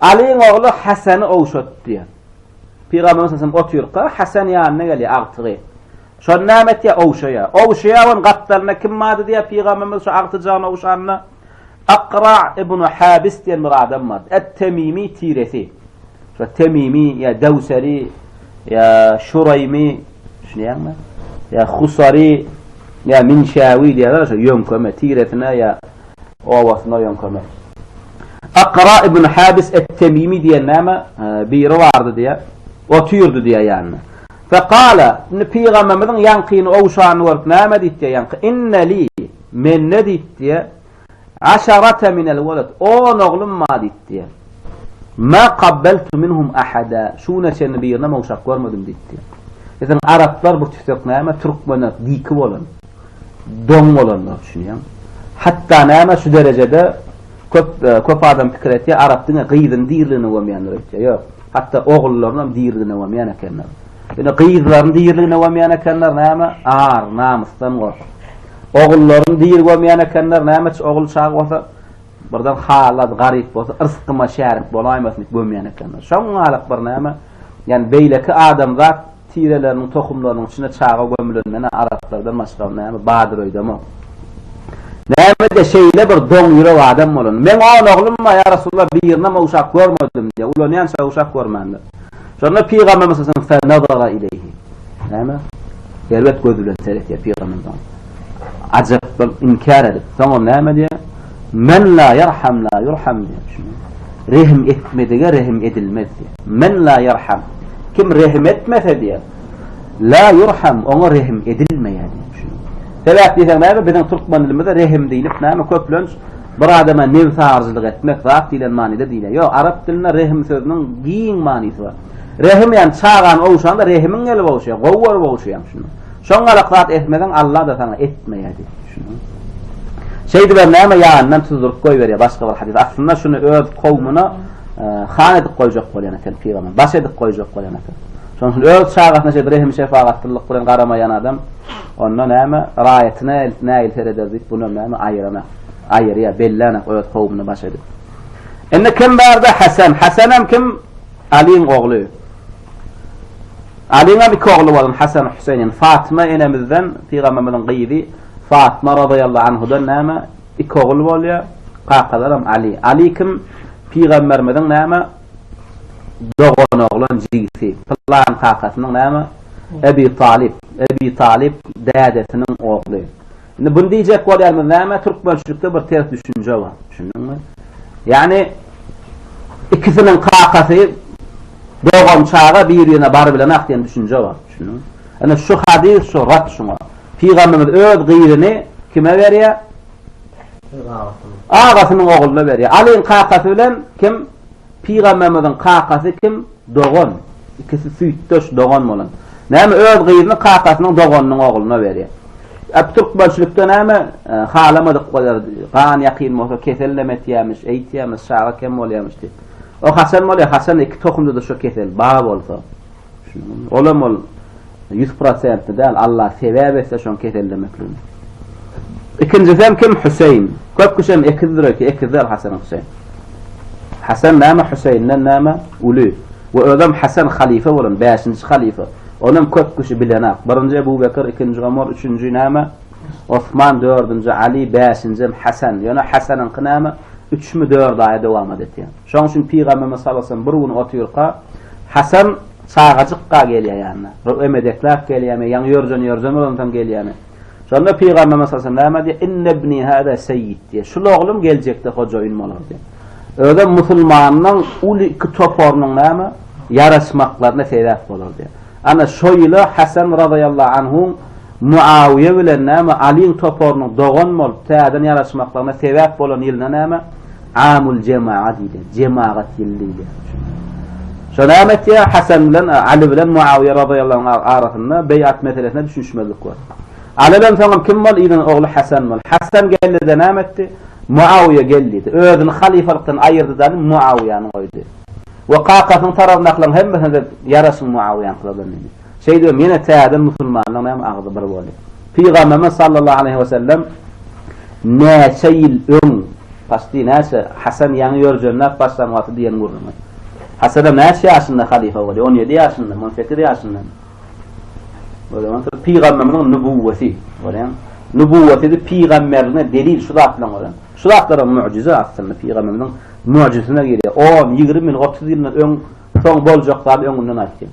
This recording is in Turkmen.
Alyň ogly Hasany ogşat diýýär. Pygamberimiz salsallam otyrka Hasan ýanyna gelýär, agtygy. Şony näme etýär? Ogşaýar. Ogşaýar onuň gapdalynda kim bardy diýýär pygamberimiz şu agtyjagyny ogşanda? Akra ibn Habis diýen bir adam bardy. Et-Temimi tiresi. Şo Temimi ýa Dewseri ýa Şuraými düşünýäňmi? Ýa Husari ýa Minşawi diýýärler şo ýöňkeme tiresine ýa obasyna ýöňkemek. Akra ibn Habis et-Temimi diýen näme, biri bardy diýýär. Otyrdy diýýär ýanynda. Fekale, indi pygamberimiziň ýaňkyny ogşanyny görüp näme diýip diýýär ýaňky, inne li, mende diýip diýýär, aşarate minel weled, on oglum bar diýip diýýär. Ma kabbeltu minhum ahada, şu güne çenli birinem ogşap görmedim diýip diýýär. Biziň araplar bu tütek näme, türkmenler diki bolan. Doň bolanlar üçin ýaň. Hatda näme şu derejede köp köp adam pikir etýär arap diňe gyzyny diriligine gömýändir öýtýär. Ýok. Hatda ogullarynam diriligine gömýän ekenler. Ýöne gyzlaryny diriligine gömýän ekenler näme? Ar, namysdan gorkup. Ogullaryny diri gömýän ekenler näme ogul çaga bolsa Birden haly-az garyp bolsa, yrsgyma şärik bolaýmasyn diýip gömýän ekenler. Şoňňalyk birnäme, ýagny beýleki adamzat tireleriniň, tohumlarynyň içine çaga gömülen menä araplardan başga näme badyr öýdemok. Näme-de şeýle bir doň ýürek adam bolan. Men on oglum bar, ýa Resulallah, birinem uşak görmedim diýýär. Ulanýança uşak görmändir. Şonda pygamberimiz sallallahu aleyhi ve sellem nazara ileyhi. Näme? Erbet göz bilen seretýär pygamberimiz. Ajap bolup inkär edip, soňra näme diýär? Men la yerham la yurham diýär. Rehim etmedige rehim edilmez diýär. Men la yerham. Kim rehim etmese diýär. La yurham, oňa rehim edilmeýär diýär. Sebäp diýseň näme? Biziň türkmen dilimizde rehim diýlip näme köplenç Bir adama nebsagyryjylyk etmek zat diýlen manyda diýilýär. Ýok, arap dilinde rehim sözüniň giň manysy bar. Rehim ýagny çagany ogşanda rehimiň gelip ogşaýar, gowy görüp ogşaýaň şuny. Şoň galak zat etmeseň Alla-da saňa etmeýär diýip düşüniň. Şeýdibem näme ýanyndan tuzduryp goýberýär başga bir hadys. Aslynda şuny öz kowmuna han edip goýjak bolýan eken pygamber. Baş edip goýjak bolýan eken. Şonuň üçin öz çagasyna şeýdip rehim şefagatlylyk bilen garamaýan adam onda näme raýatyna nägil sereder diýip bunu näme aýyrana. aýyrýar, belläne öz kowumyny baş edip. Indi kim barda Hasan, Hasanam kim? Alyň ogly. Alyňam iki ogly bolan Hasan Hüseýin, indi Fatyma enemizden, pygamberimiziň gyzy Fatyma radallahu anhadan näme? Iki ogul bolýar. Kakalaram Aly. Aly kim? Pygamberimiziň näme? Dogan oglan jigisi. Pylan kakasynyň näme? Ebi Talyp. Ebi Talyp dädesiniň ogly. Indi bunu diýjek bolýarmyz, näme türkmençilikde bir ters düşünje bar, düşündiňmi? Ýagny ikisiniň kakasy dogan çaga bir-birine bar bilenak diýen düşünje bar, düşündiňmi? Ene şu hadys şu rat şuňa. Pygamberimiz öz gyzyny kime berýär? Agasynyň ogluna berýär. Alyň kakasy bilen kim? Pygamberimiziň kakasy kim? Dogan. Ikisi süýtdeş, dogan bolan. Näme öz gyzyny kakasynyň doganynyň ogluna berýär. Ep türkmençilikde näme halamadyk bolýar, gan ýakyn bolsa kesel näme etýämiş, eýtýämiş, çaga kem bolýamyş diýip. O haçan bolýar? Haçan iki tohumda-da şo kesel ba bolsa. Olam ol ýüz prosentli däl, Allah sebäp etse şoň kesellemekligini. Ikinjisem kim? Hüseýin. Köp kişem ekizdir öýke, ekiz däl Hasan Hüseýin. Hasan näme, Hüseýinden näme? Uly. We özem Hasan halyfa bolan, bäşinji halyfa. Onam köp kişi bilenak. Birinji Ebu Bekir, ikinji Omar, üçünji näme? Osman, dördünji Ali, bäşinjem Hasan. Ýöne Hasanyňky näme? Üçmi, dört aýa dowamat etýär. Şoň üçin Pygamberimiz sallallahu aleýhi we sellem bir gün otyrka, Hasan çagajykka gelýär ýanyna. Roe medekläp gelýärmi, ýaňy ýörjen-ýörjen bolansoň gelýärmi. Şonda Pygamberimiz sallallahu aleýhi we sellem näme diýýär? Inne ibni hada seýýid diýýär. Şul oglum geljekde hojaýyn bolar diýýär. Özem musulmanyň uly iki toparynyň näme, ýaraşmaklaryna sebäp bolar diýýär. Ana şo ýyl-a Hasan razyýallahu anhu Muawyýe bilen näme, Alyň toparynyň dogan bolup, täzeden ýaraşmaklaryna sebäp bolan ýylynda näme, Amul jemaa diýdi. Jemagat ýyly diýdi. Şo näme etýär? Hasan bilen Aly bilen Muawyýe razyýallahu arasynda beýat meselesinde düşünişmezlik bor. Alydan soňam kim bol? Yzyň ogly Hasan bol. Hasan geldi-de näme etdi? Muawyýe gel diýdi. Özüni halyfalykdan aýyrdy-da Aly Muawyýäni goýdy. We kakasynyň tarapyndakylaryň hemmesine-de ýaraşyň Muawyýäňkylardan diýdi. Şeýdibem ýene täze musulmanlaryň hem agzy bir boldy. Pygamberimiz sallallahu aleýhi we sellem näçe ýyl öň, paçti näçe, Hasan ýaňy ýörjenläp başlan wagty diýen gürrüňi. Hasanam näçe ýaşynda halyfa bolýar? On ýedi ýaşyndamy, on sekiz ýaşyndamy? O zaman şol pygamberimiziň nübuwweti, görýäňmi? Nübuwweti pygamberligine delil şu zat bilen görýäň. Şu zatlaram mugjyza aslynda pygamberimiziň mugjyzysyna girýär. On, ýigrimi ýyl, otuz ýyldan öň, soň boljak zady öňünden aýtýar.